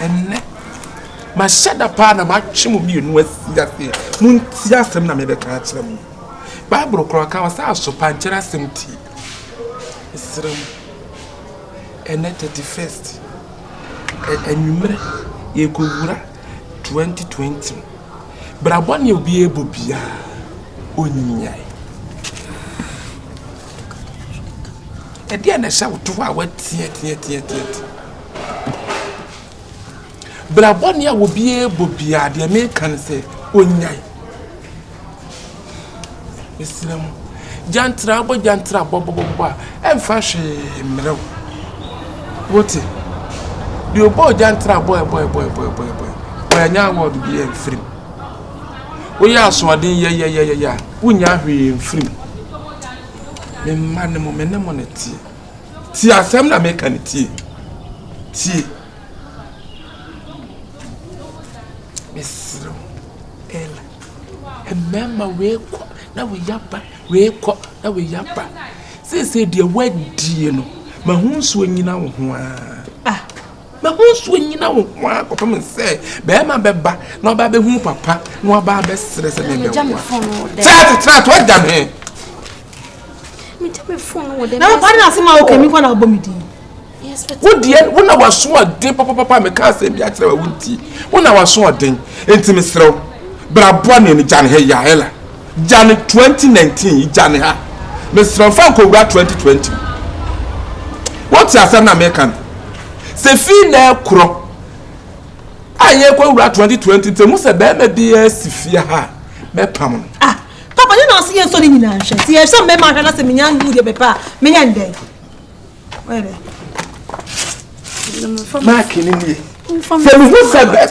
Ɛnnɛ, mahyɛ da paa na matwe mo mmienu asi aseɛ. Montie asɛm na mebɛka akyerɛ mo. Bible koraa ka ɔsɛ asopankyɛrɛ asɛm tie. Mesrɛ mo, ɛnnɛ 31st, anwummerɛ yɛrekɔwura 2020 mu. Bra bɔne a obiara bɔ biara, ɔnyae. Ɛdeɛn na ɛhyɛ wo to hɔ a woateateateateate? Bra bɔne a obiara bɔ biara, deɛ meka ne sɛ ɔnyae. Mesrɛ mo, gyantra abɔ gyantra abɔ bɔbɔbɔ a, ɛmfa hwee mmerɛ wo. Wote? Deɛ ɔbɔɔ gyantra abɔ ɛbɔ ɛbɔ ɛbɔ ɛbɔ ɛbɔ wɔanya award bi mfirim. Woyɛ asoɔden yɛyɛyɛyɛ a, wonnya hwee mfirim. me mma no mo me ne mo ne tie tie asɛm na meka no tie tie mesrɛ ɛla mmarima weekɔ na weya ba weekɔ na weya ba seesei deɛ woadie no mahu nsuo nyina wo ho aa ah. Na wo nso nnyina wo ho ara kɔpem sɛ barima bɛba na waba abɛhu wo papa na waba abɛsrɛ sɛ mebɛwo a. Sɛ asetra to agya me. Megya me fon wɔ dɛ. Na wo pare ase ma wo kɛmi kɔ na abɔ me din. Wo deɛ wo na waso ɔden papapapa meka asɛm bi akyerɛ wa wo nti wo na waso ɔden nti mesrɛ wo bra boa ne ne gya ne hɛ yɛ ayɛla. Gya no twenty nineteen yi gya ne ha mesrɛ wo fa nkɔwura twenty twenty mu wote asɛm na meka no sɛ fii na ɛkorɔ a yɛkɔ wura twenty twenty nti mu sɛ bɛrima bi asi fie ha a mɛpam no. ah papa ne na ɔsɛ yɛn nsɔ ne nyinaa nhwɛ ti yɛ sɛ mmarima ahwɛ na sɛ menya ngu deɛ bɛpɛ a menyɛ ndɛn. maaki no nie sɛ mehu sɛ bɛ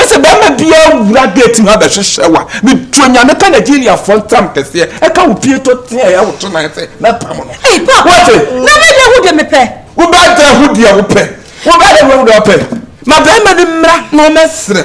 sɛ bɛma biaa wura gate mu abɛhwehwɛ wa metuo nyame ka nigeriafoɔ ntam kɛseɛ ɛka wo pie to teɛ ɛyɛ woto nan sɛ mɛpam no wobɛdɛ ho deɛ wopɛ wobɛdɛ ho deɛ wopɛ ma bɛma no mmra na ɔmɛserɛ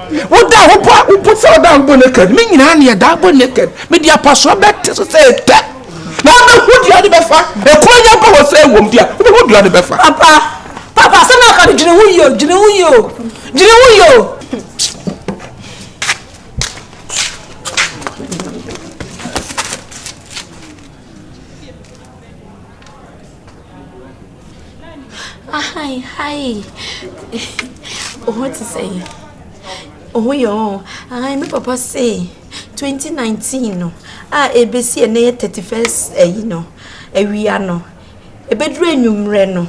Woda ho bɔ a, wobu sɛ woda ho bɔ naked. Me nyinaa ne ɛda bɔ naked. Mede apasoa bɛte so sɛ ɛtɛ. Na wobɛhu deɛ wode bɛfa. Ɛkuro nya bɔ hɔ sɛ ɛwom deɛ a, wobɛhu deɛ wode bɛfa. Papa, papa, sɛ na aka no dwene ho yio, dwene ho yio, dwene ho yio. Ahae hae wo ho te sɛ yi wo ho yɛ ɔɔ ahae me papa se 2019 no a ɛbɛsi ɛnɛ yɛ 31st ayi no awia no ɛbɛduru anwummerɛ no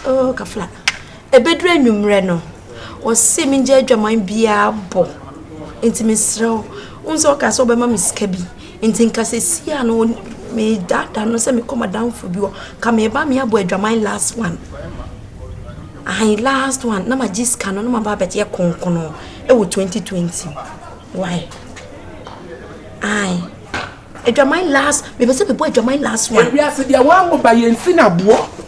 oh kafla ɛbɛduru anwummerɛ no ɔse mengya adwaman biara bɔ nti mesrɛ wo wohu sɛ ɔka sɛ ɔbɛma me sika bi. Nti nka sesii a no medaadaa no sɛ mekɔ madamfo bi hɔ nka meba meabɔ adwaman last one ahan last one na magye sika no na maba abɛyɛ konkono ɛwɔ 2020 why ae adwaman last mepɛ sɛ mebɔ adwaman last one. Ewiase deɛ wɔn ahoba yɛn si na boɔ.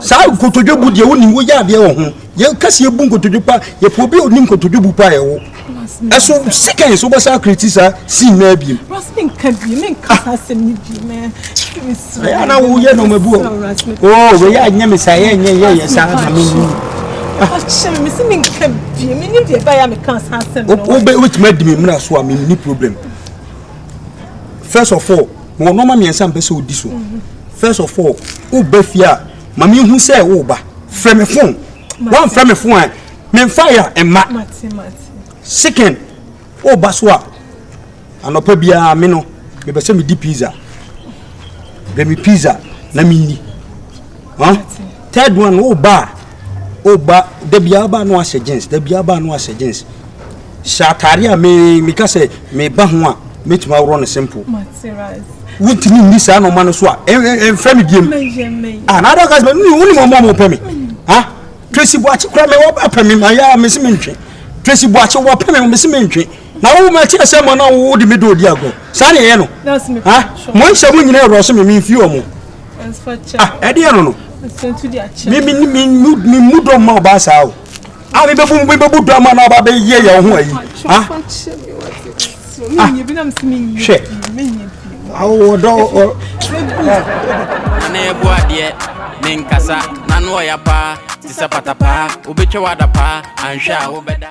Saa nkotodwe bu deɛ wonim woyɛ adeɛ wɔ ho. Yɛ kasi ebu nkotodwe pa yɛ pɛ obi a onim nkotodwe bu pa yɛ wo. Ɛso sikɛn so bɛsa akriti saa sin na abiem. Rasmi nka bi me nka saa sɛm ni bi mɛ. Ɛyɛ na wo yɛ no mabu o. Oh, we yɛ nyɛ me saa yɛ nyɛ yɛ yɛ saa na me ni. Akyɛ me si me nka bi me ni deɛ ba ya me ka saa sɛm no. Wo bɛ wetuma di me mra so a me ni problem. First of all, Mewɔ nnoɔma mmiɛnsa mpɛ sɛ odi so. First of all, woba fie a ma mehu sɛ woba. Frɛ me fon. Woamfrɛ me fon a memfa yɛ a mma. Second, woba so a anɔpa biara me no mepɛ sɛ medi pizza. Brɛ me pizza na menni. Huh? Third one, wo ba a, wo ba da biara wo ba no ahyɛ jeans, da biara ba no ahyɛ jeans. Hyɛ atare a me me ka sɛ me ba ho a metumi aworɔ no simple. Wontumi nni saa na ɔma no so a ɛmfrɛ me biem. Ah, na adaka sɛ ne wo ne mɔmɔ mo pɛ me. Ha? Tracy Boakye kura me wɔpɛ me ma ya me se me ntwe. Tracy Boakye wɔpɛ me me se me ntwe. Na wo ma kyerɛ sɛ mɔ na wo de me dɔ odi agorɔ. Saa na ɛyɛ no. Ha? Mo nhyɛ mo nyina ɛwɔ so me me mfi ɔmo. Ah, ɛdeɛ no no. Me me me me mu dɔ mma ɔbaa saa o. Ah, me bɛbu me bɛbu dɔ ama na ɔbaa bɛ yɛ yɛ ho ayi. Ah. Ah. Hwɛ. Awo dɔ ɔ. Ana yɛ bu adeɛ ne nkasa n'ano ɔya paa te sɛ patapaa obetwa wada paa anhwɛ a wobɛda.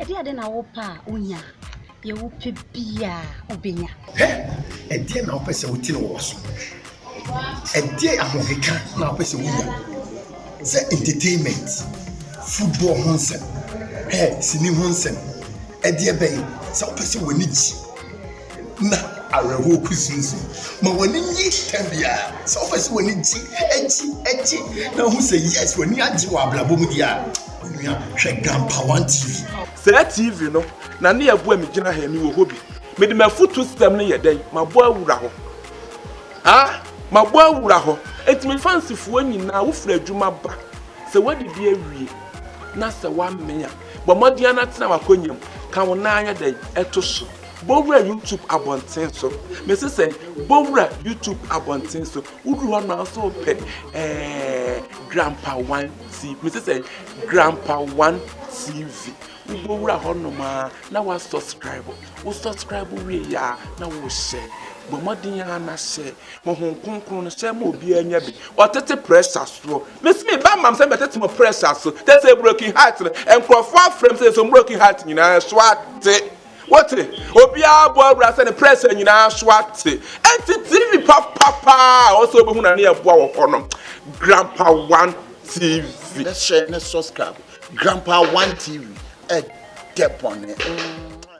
Ɛdeɛn ade na wopɛ a wonya? Deɛ wopɛ biara wobɛnya. Hɛ! Ɛdeɛn na wopɛ sɛ wotene wɔ so? Ɛdeɛn ahokeka na wopɛ sɛ wonya? Sɛ entertainment, football ho nsɛm, hɛ, sini ho nsɛm, ɛdeɛ bɛn? Sɛ wopɛ sɛ w'ani gye. na awerɛhoɔ kusinsin. Ma w'ani nye tɛm biara. Sɛ wopɛ sɛ w'ani gye, gye, gye na wohu sɛ yes w'ani agye wɔ abrabɔ mu deɛ a, onua hwɛ Grandpa One TV. Saa TV no na ne ɛboa me gyina ha yi, mewɔ hɔ bi. Mede m'afutuo system no yɛ dɛn? Mabɔ awura hɔ. Ah! Mabɔ awura hɔ. Enti me fansifoɔ nyinaa, wofiri adwuma ba, sɛ woadidi awie na sɛ woamee a, bɔ mmɔden ara na tena w'akonnwa mu, ka wo nan ayɛ dɛn? To so. Bɔwura YouTube abɔnten so. Mese sɛn? Bɔwura YouTube abɔnten so. Woduru hɔ no nso pɛ ɛɛ Grandpa One TV. Mese sɛn? Grandpa One TV. Wobɔwura hɔ nom a na wa subscribe. Wo subscribe wie yɛ a na wohyɛ. Bɔ mmɔden ara na hyɛ. Honhom kronkron no hyɛ ma obiara nya bi. Ɔtete pressure soɔ. Mese me ba mam sɛ mɛtete mo pressure so. Tɛ sɛ broken heart no. Nkurɔfoɔ afrɛ m sɛ yɛsɔ broken heart nyinaa so ate. Wote? Obiara bɔ awura sɛ ne prɛsɛ nyinaa so ate. Enti TV papa paa a ɔsɛ obehu na ne yɛ boa wɔ hɔ no. Grandpa One TV. Ne hyɛ ne subscribe. Grandpa One TV. Ɛdɛ bɔne.